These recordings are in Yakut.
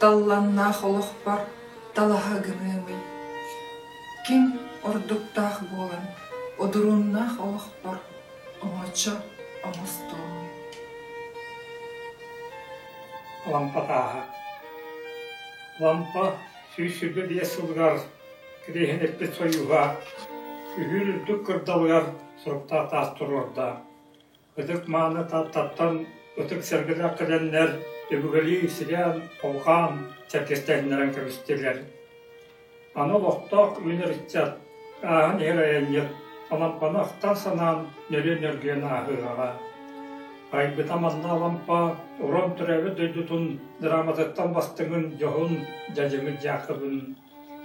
Талланнаах олохпор талаһа гыныамый. Ким ордуктаах буолан одуруннаах олохпор оҥочо оҥостуоҥ. Лампа ааһа. Лампа сүүс сүүрбэ биэс сылыгар кириэһин эппит сойууһа, сүһүүр үрдүк кырдалыгар соруктаах таас туруорда. Ытык-мааны Тааттаттан ытык сэргэлээх кэлэннэр үбүгэлии сирээн-куукаан чэркэстээһиннэрэн кэбистилэр. Аны олохтоох үүнэр ыччат ааһан иһэр айанньыт Алампаны ахтан-санаан нөрүө нөргүйэн ааһыаҕа. Айбыта манна Алампа Уран төрөөбүт дойдутун драматыттан бастыҥын дьоһун дьадьымыт дьаакыбын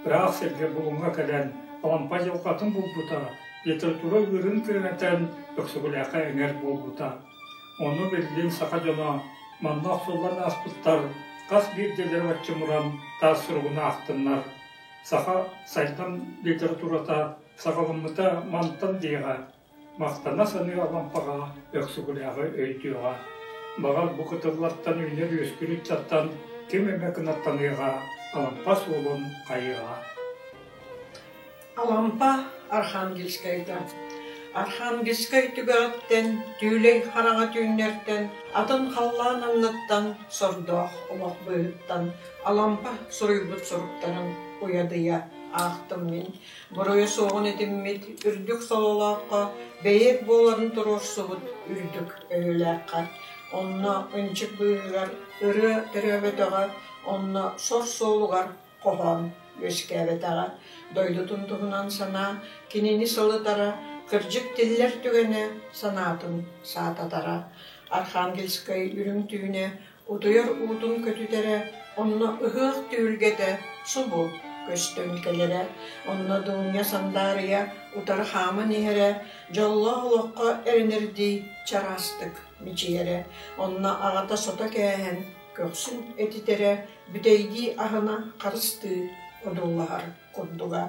ыраах сиргэ Булуҥҥа кэлэн Алампа дьылҕатын булбута, литература ыырын күрэнэтэн Өксүгулээххэ эҥэр буолбута. Ону биллин саха дьоно манна охсуллан ааспыттар хас биирдиилэри отчумуран таас суругун аахтыннар. Саха сайдам литературата саҕаламмыта мантан диэҕэ Махтана саныы Алампаҕа, Өксүкүлээҕи өйдүөҕэ, баҕар, бу кытыллартан үллэр үөскүүрүттэн ким эмэ кынаттаныаҕа, Алампа суолун хайыаҕа Алампа Архангельскайга Архангельскай түгэҕиттэн, Түүлэй хараҕа түүннэртэн, атын халлаан анныттан, сордоох олох быыһыттан Алампа суруйбут суруктарын уйадыйа аахтым мин. буруйа суоҕун этиммит үрдүк сололооххо бэйиэт буоларын туруорсубут үрдүк өйүлээххэ онно ынчык быыһыгар ырыа төрөөбөтөҕө онно сор суолугар хоһоон үөскээбэтэҕэ дойдутун туһунан санаа кинини сылытара кырдьык тиллэр түгэнэ санаатын саататара архангельскай үрүҥ түүнэ Утуйар уутун көтүтэрэ, онно ыһыах түһүлгэтэ субу көстөн кэлэрэ, онно Дуунньа сандаарыйа утары хааман иһэрэ, дьоллоох олоххо эрэнэрдии чараастык мичийэрэ, онно аҕата сото кээһэн көхсүн этитэрэ, бүтэйдии аһына харыстыы одуулаһар курдуга,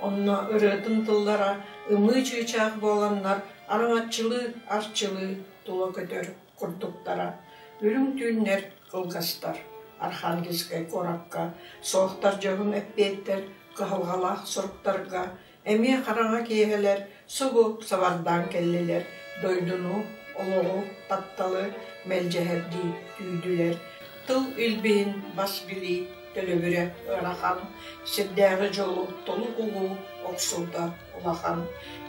онно ырыатын тыллара ымыы чыычаах буоланнар араҥаччылыы-арчылыы тула көтөр курдуктара үрүҥ түүннэр кылгастар Архангельскай куоракка суохтар дьонун эппиэттэр кыһалҕалаах суруктарга эмиэ хараҥа киэһэлэр субу сабардаан кэллилэр дойдуну олоҕу тапталы мэлдьэһэрдии түүрдүлэр тыл илбиһин бас билии төлөбүрэ ыарахан сирдээҕи дьолу толук улуу охсуута улахан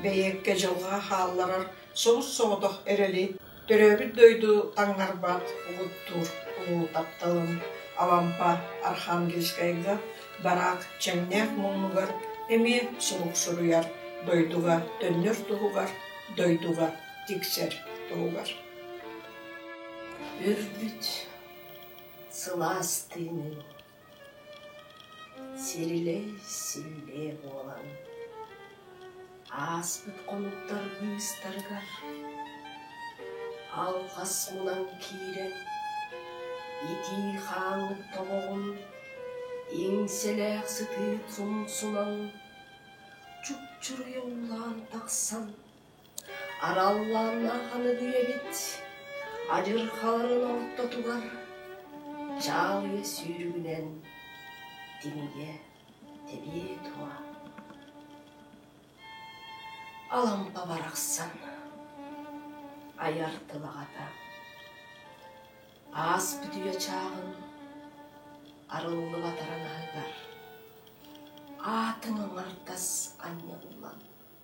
бэйиэккэ дьылҕа хаалларар Сорус-соҕотох эрэли, төрөөбүт дойду таҥнарбат угуттуур улуу тапталым Алампа Архангельскайга бараак чэҥнээх муннугар эмиэ сурук суруйар, дойдуга төннөр туһугар, дойдуга тиксэр туһугар. Үрбүт сылаас тыынын Сирилэй силлиэ буолан ааспыт хонуктар быыстарыгар алҕас булан киирэн итии хаамыт тобоҕун иҥсэлээх сытыы сумсунан чупчуруйумлаан тахсан Араллаан аһаныгый эбит адьырхаларын ортотугар чаалыйа сүүрүгүнэн тимийэ тэбиэ туо Алампа барахсан айар тылаҕата аас бүтүйэ чааҕын арыллыбатаран аһыгар аатын аҥардас анньыллан